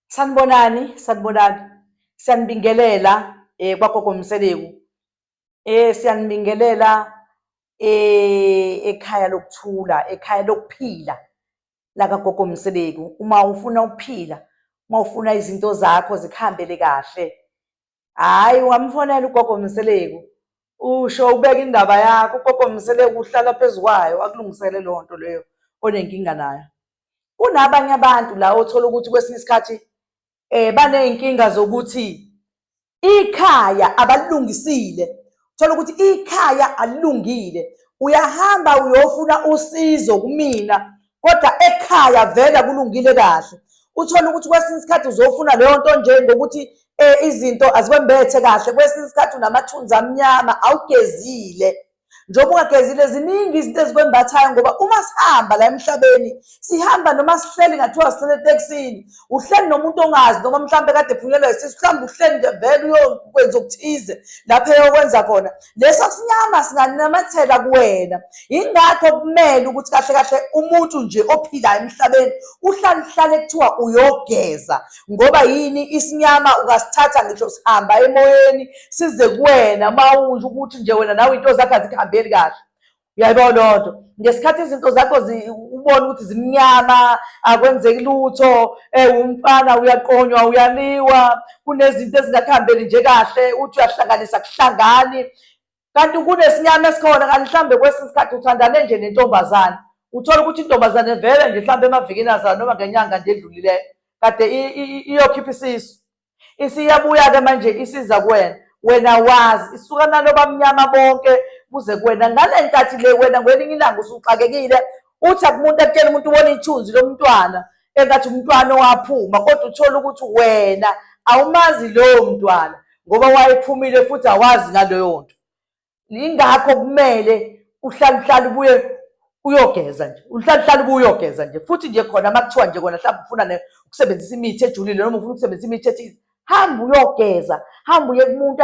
Sanibonani, sanibonani. Siyanibingelela eh kwagogo Mseleku. Eh siyanibingelela eh ekhaya lokuthula, ekhaya lokuphila la kagogo Mseleku. Uma ufuna ukuphila, uma ufuna izinto zakho zikhambele kahle, hhayi ungamfonela ugogo mseleku usho ubeka indaba yakho ugogo mseleku uhlala phezu kwayo akulungisele loo nto leyo onenkinga nayo kunabanye abantu la othola ukuthi kwesinye isikhathi um baney'nkinga zokuthi ikhaya abalilungisile thola ukuthi ikhaya alilungile uyahamba uyofuna usizo kumina kodwa ekhaya vele kulungile kahle uthole ukuthi kwesinye isikhathi uzofuna leyo nto nje ngokuthi um izinto azikwembethe kahle kwesinye isikhathi unamathunzi amnyama awugezile njengoba ungagezile ziningi izinto ezikwembathayo ngoba uma sihamba la emhlabeni sihamba noma sihleli ngathiwa sihlele etekisini uhleli nomuntu ongazi noma mhlawumbe kade ephunyelwa isisu mhlawumbe uhleli nje vele uyokwenza okuthize lapho eyokwenza khona leso sinyama singanamatheka kuwena yingakho kumele ukuthi kahle kahle umuntu nje ophilayo emhlabeni uhlale uhlale kuthiwa uyogeza ngoba yini isinyama ungasithatha ngisho sihamba emoyeni size kuwena mawunje ukuthi nje wena nawe into zakhe azikuhambeli kahle uyayibona leyo nto ngesikhathi izinto zakho ubona ukuthi zimnyama akwenzeki lutho um umfana uyaqonywa uyaliwa kunezinto ezingakuhambeli nje kahle uthi uyahlanganisa kuhlangani kanti kunesinyama esikhona kanti mhlawumbe kwesinye isikhathi uthandane nje nentombazane uthole ukuthi intombazane vele nje mhlawumbe emavikini azana noma ngenyanga nje edlulileyo kade iyokhipha isisu isiyabuya-ke manje isiza kuwena wena wazi isuka nalo bamnyama bonke kuze kuwena ngale nkathi le wena ngwelinye ilanga usuxakekile uthi akumuntu akutshela umuntu ubona ithunzi lomntwana engathi umntwana owaphuma kodwa uthole ukuthi wena awumazi lowo mntwana ngoba wayephumile futhi awazi naloyo nto Yingakho kumele uhlale uhlale ubuye uyogeza nje uhlale uhlale ubuye uyogeza nje futhi nje khona uma kuthiwa nje kona mhlawumbe ufuna ukusebenzisa imithi ejulile noma ufuna ukusebenzisa imithi ethize hamba uyogeza hamba uye kumuntu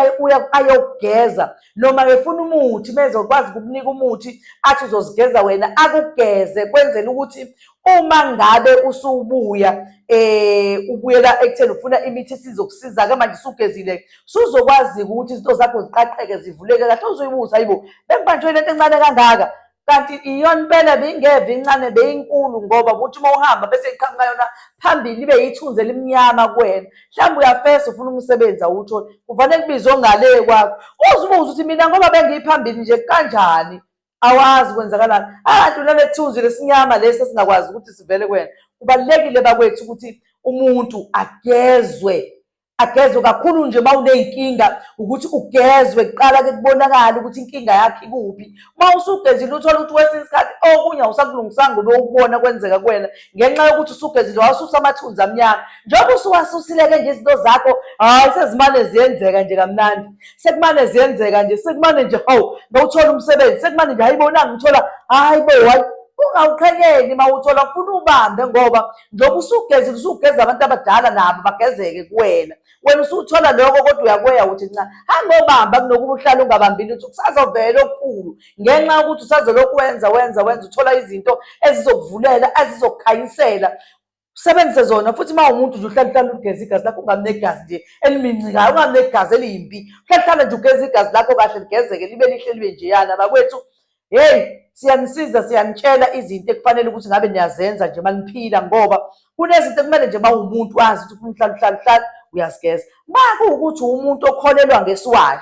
ayogeza noma efuna umuthi mezokwazi ukukunika umuthi athi uzozigeza wena akugeze kwenzela ukuthi uma ngabe usubuya eh ubuyela ekutheni ufuna imithi esizokusiza ke manje usugezile suzokwazi ukuthi izinto zakho ziqaqeke zivuleke kahle uzoyibuza hayibo bengibanjwe lento encane kangaka kanti iyona impela beyingeve incane beyinkulu ngoba ukuthi uma uhamba bese iqhamuka yona phambili ibe yithunzi elimnyama kuwena mhlawumbe uyafesa ufuna umsebenzi awuthole kufanele kubizwe ongale kwakho uzibuze ukuthi mina ngoba bengiyiphambili nje kanjani awazi kwenzakalani abantu ah, nanethunzi lesinyama lesi esingakwazi ukuthi sivele kwena kubalulekile bakwethu ukuthi umuntu agezwe agezwe kakhulu nje uma uney'nkinga ukuthi ugezwe kuqala ke kubonakala ukuthi inkinga yakhe ikuphi uma usugezile uthole ukuthi kwesinye isikhathi okunye awusakulungisanga ube ukubona kwenzeka kuwena ngenxa yokuthi usugezile wasusa amathunzi amnyama njengoba usuwasusileke nje izinto zakho hhayi sezimane ziyenzeka nje kamnandi sekumane ziyenzeka nje sekumane nje hawu ngawuthola umsebenzi sekumane nje hayibo nangithola hayi bo hayi ungawuqhekeni uma uthola ufuna ubambe ngoba njengoba usugeze usugeza abantu abadala nabo bagezeke kuwena wena usuthola lokho kodwa uyakweya ukuthi nca hangobamba kunokuba uhlale ungabambi lutho kusazovela okukhulu ngenxa yokuthi usazelokhu wenza wenza wenza uthola izinto ezizokuvulela ezizokukhanyisela usebenzise zona futhi uma umuntu nje uhlale uhlale ugeza igazi lakho ungabi negazi nje elimincikayo ungabi negazi eliyimbi uhlale uhlale nje ugeza igazi lakho kahle ligezeke libe lihle libe njeyana bakwethu heyi siyanisiza siyanitshela izinto ekufanele ukuthi ngabe niyazenza nje maniphila ngoba kunezinto ekumele nje mawumuntu azi ukuthi ufuna uhlale uhlale uhlale uyazigeza ma kuwukuthi umuntu okholelwa ngesiwayo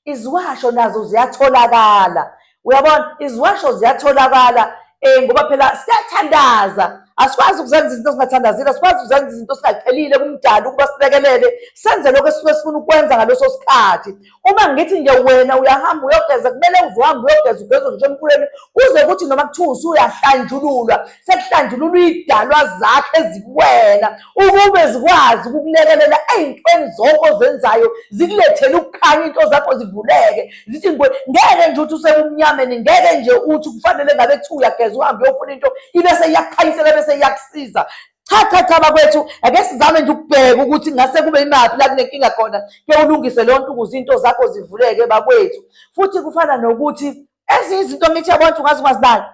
iziwasho nazo ziyatholakala uyabona iziwasho ziyatholakala um ngoba phela siyathandaza asikwazi ukuzenza izinto ezingathandazile asikwazi ukuzenza izinto singacelile kumdala ukuba silekelele senze lokho esuke sifuna ukwenza ngaleso sikhathi uma ngithi nje wena uyahamba uyogeza kumele uvuhambe uyogeza ugezwe ngisho emkhuleni kuze kuthi noma kuthiwa usuyahlanjululwa sekuhlanjululwa iy'dalwa zakhe ezikuwena ukube zikwazi ukukulekelela ey'ntweni zonke ozenzayo zikulethele ukukhanya into zakho zivuleke zithi ngwe ngeke nje uthi usekumnyameni ngeke nje uthi kufanele ngabe kuthiwa uyageza uhambe uyofuna into ibe seyiyakukhanyisela bese iyakusiza cha cha cha bakwethu ake sizame nje ukubheka ukuthi ngase kube imaphi la kunenkinga khona ke ulungise leyo nto ukuze into zakho zivuleke bakwethu futhi kufana nokuthi ezinye izinto mithi yabona ukuthi ungaze ungazibali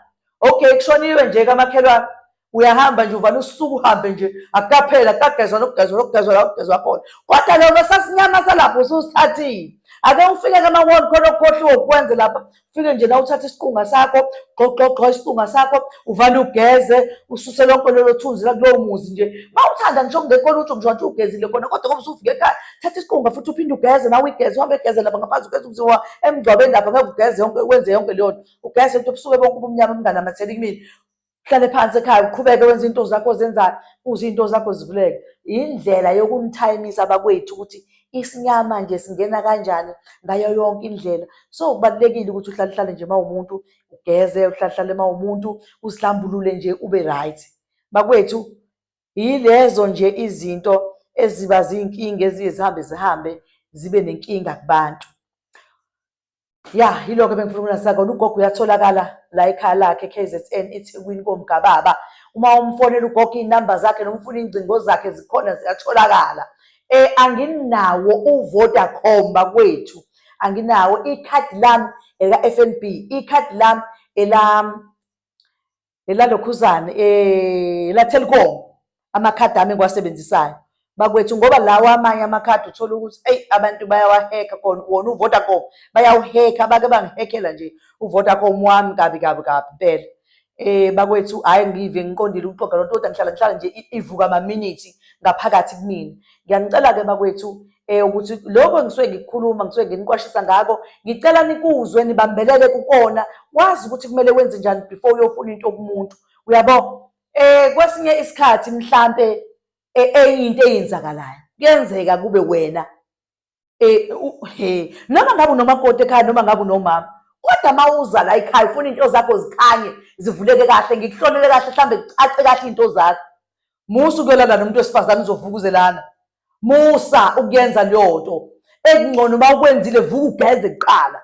okay kushoniwe nje kamakhelwane uyahamba nje uvana usuku uhambe nje akukaphela kukagezwa nokugezwa nokugezwa la kugezwa khona kodwa loko sasinyama salapho ususithathile ake ufike kama-wall khona okukhohliwe ukwenze lapha ufike nje na uthathe isiqunga sakho gxogxogxo isiqunga sakho uvane ugeze ususe lonke lelo thunzi lakulowo muzi nje ma uthanda ngisho kungekho lutho ngisho wathi ugezile khona kodwa kobe usufike ekhaya thatha isiqunga futhi uphinde ugeze nawe igeze uhambe egeze lapha ngaphansi ugeze ukuziwa emngcwabeni lapha ngeke ugeze yonke wenze yonke leyo nto ugeze nto busuke bonke ubumnyama obunganamatheli kumina uhlale phansi ekhaya uqhubeke wenza into zakho ozenzayo kuze into zakho zivuleke indlela yokunithayimisa abakwethu ukuthi isinyama nje singena kanjani ngayo yonke indlela so kubalulekile ukuthi uhlale hlale nje mawumuntu ugeze uhlale hlale mawumuntu usihlambulule nje ube right bakwethu Yilezo nje izinto eziba zinkinga eziye zihambe zihambe zibe nenkinga kubantu. Ya, yiloko ebengifuna ukunasa kona. Ugogo uyatholakala la ekhaya lakhe KZN eThekwini komgababa. Uma umfonela ugogo iy'namba zakhe noma ufuna iy'ngcingo zakhe zikhona ziyatholakala. Eh anginawo uVodacom bakwethu. Anginawo ikhadi lami ela FNB, ikhadi lami ela lelalokhuzane um eh, lathelcom amakhadi ami engiwasebenzisayo bakwethu ngoba lawa amanye amakhadi uthola ukuthi eyi abantu bayawaheka kona wona uvodacom bayawuheka bake bangihekela nje uvodacom wami kabi kabi kabi impela eh bakwethu hayi ngive ngiqondile ukuxoga lonto kodwa ngihlala ngihlala nje ivuka amaminithi ngaphakathi kumina ngiyanicela-ke bakwethu eh ukuthi lokho engisuke ngikukhuluma ngisuke nginiqwashisa ngako ngicela nikuzwe nibambelele kukona wazi ukuthi kumele wenze njani before uyofuna into kumuntu uyabo eh kwesinye isikhathi mhlambe eh, enye into eyenzakalayo kuyenzeka kube wena eh he noma ngabe unomakoti ekhaya noma ngabe unomama kodwa uma uza la ekhaya ufuna into zakho zikhanye zivuleke kahle ngikuhlonele kahle mhlambe kucace kahle into zakho musu kuyolala nomuntu wesifazane uzovukuzelana musa ukuyenza leyo nto ekungcono uma ukwenzile vuka ugeze kuqala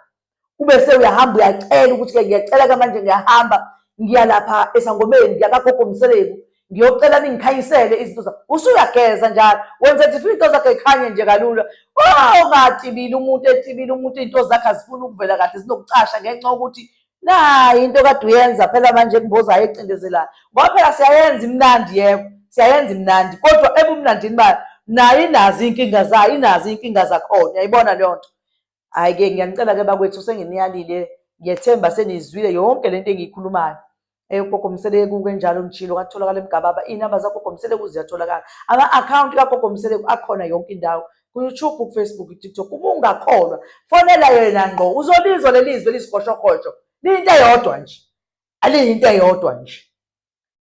ube sewuyahamba uyacela ukuthi-ke ngiyacela-ke manje ngiyahamba ngiya lapha esangomeni ngiya kagogo mseleku ngiyocela ningikhanyisele izinto zakho usuyageza njalo wenza nje into zakhe ikhanye nje kalula ungatibile umuntu etibile umuntu iy'nto zakhe azifuni ukuvela kahle zinokucasha ngenxa yokuthi nayi into kade uyenza phela manje kumboza ayecindezelayo ngoba phela siyayenza imnandi yebo siyayenza imnandi kodwa ebumnandini bayo nayo inazo iy'nkinga zayo inazo iy'nkinga zakhona yayibona leyo nto hhayi-ke ngiyanicela-ke bakwethu senginiyalile ngiyethemba seniyizwile yonke le nto engiyikhulumayo eyogogo mseleku kenjalo ngishilo katholakala emgababa iy'namba zagogo mseleku ziyatholakala ama-akhawunti kagogo mseleku akhona yonke indawo kuYouTube, kuFacebook, kuTikTok, uma ungakholwa fonela yena ngqo uzolizwa leli zwi eliyisigoshokhosho liyinto eyodwa nje aliyinto eyodwa nje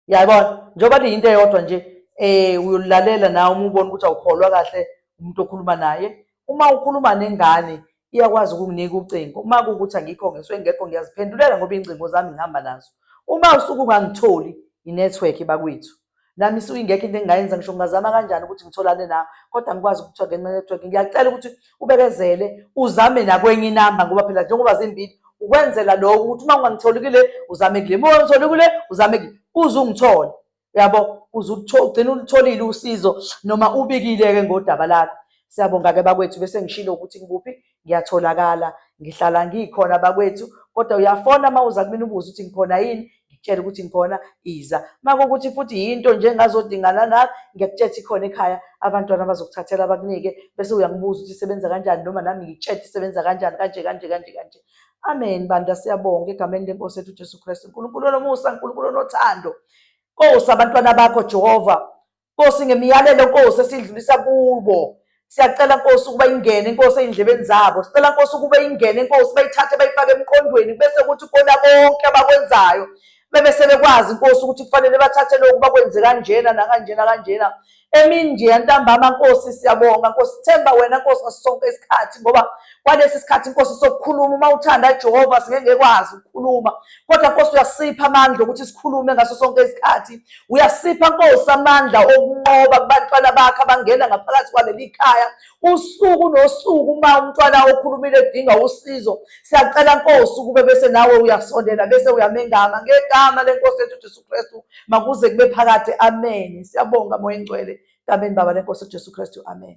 yayibona njengoba liyinto eyodwa nje um uyolilalela nawe uma ubona ukuthi awukholwa kahle umuntu okhuluma naye uma ukhuluma nengane iyakwazi ukunginika ucingo uma kuwukuthi angikho ngisuke ngekho ngiyaziphendulela ngoba iy'ngcingo zami ngihamba nazo uma usuke ungangitholi inethiwekhi bakwethu nami isuke ingekho into engingayenza ngisho ngingazama kanjani ukuthi ngitholane nawe kodwa ngikwazi ukuthiwa ngenxa network ngiyacela ukuthi ubekezele uzame nakwenye inamba ngoba phela njengoba zimbili ukwenzela lokho ukuthi uma ungangitholi kule uzame kule uma ungangitholi kule uzame kule uze ungithole uyabo uze ugcine ulitholile usizo noma ubikile-ke ngodaba lakho siyabonga-ke bakwethu bese ngishilo ukuthi ngikuphi ngiyatholakala ngihlala ngikhona bakwethu kodwa uyafona uma uza kumina ubuze ukuthi ngikhona yini ngikutshela ukuthi ngikhona iza uma kukuthi futhi yinto nje engazodingana nayo ngiyakutshela ukuthi khona ekhaya abantwana bazokuthathela bakunike bese uyangibuza ukuthi isebenza kanjani noma nami ngikutshela isebenza kanjani kanje kanje kanje kanje amen bandla siyabonga egameni lenkosi ethu ujesu kristu nkulunkulu olomusa nkulunkulu onothando kosa abantwana bakho jehova Nkosi ngemiyalelo Nkosi esidlulisa kubo siyacela Nkosi ukuba ingene Nkosi ezindlebeni zabo sicela Nkosi ukuba ingene Nkosi bayithathe bayifake emqondweni bese kuthi kona konke abakwenzayo bebe sebekwazi Nkosi ukuthi kufanele bathathe lokhu bakwenze kanjena nakanjena kanjena emini nje yantambama Nkosi siyabonga Nkosi themba wena Nkosi ngasonke isikhathi ngoba kwalesi sikhathi nkosi sokukhuluma uma uthanda jehova singeke ngekwazi ukukhuluma kodwa nkosi uyasipha amandla okuthi sikhulume ngaso sonke isikhathi uyasipha nkosi amandla okunqoba kubantwana bakhe abangena ngaphakathi kwaleli khaya usuku nosuku uma umntwana okhulumile edinga usizo siyacela nkosi ukube bese nawe uyasondela bese uyamengama ngegama lenkosi yethu jesu kristu makuze kube phakade amen siyabonga moya engcwele kameni baba lenkosi ujesu kristu amen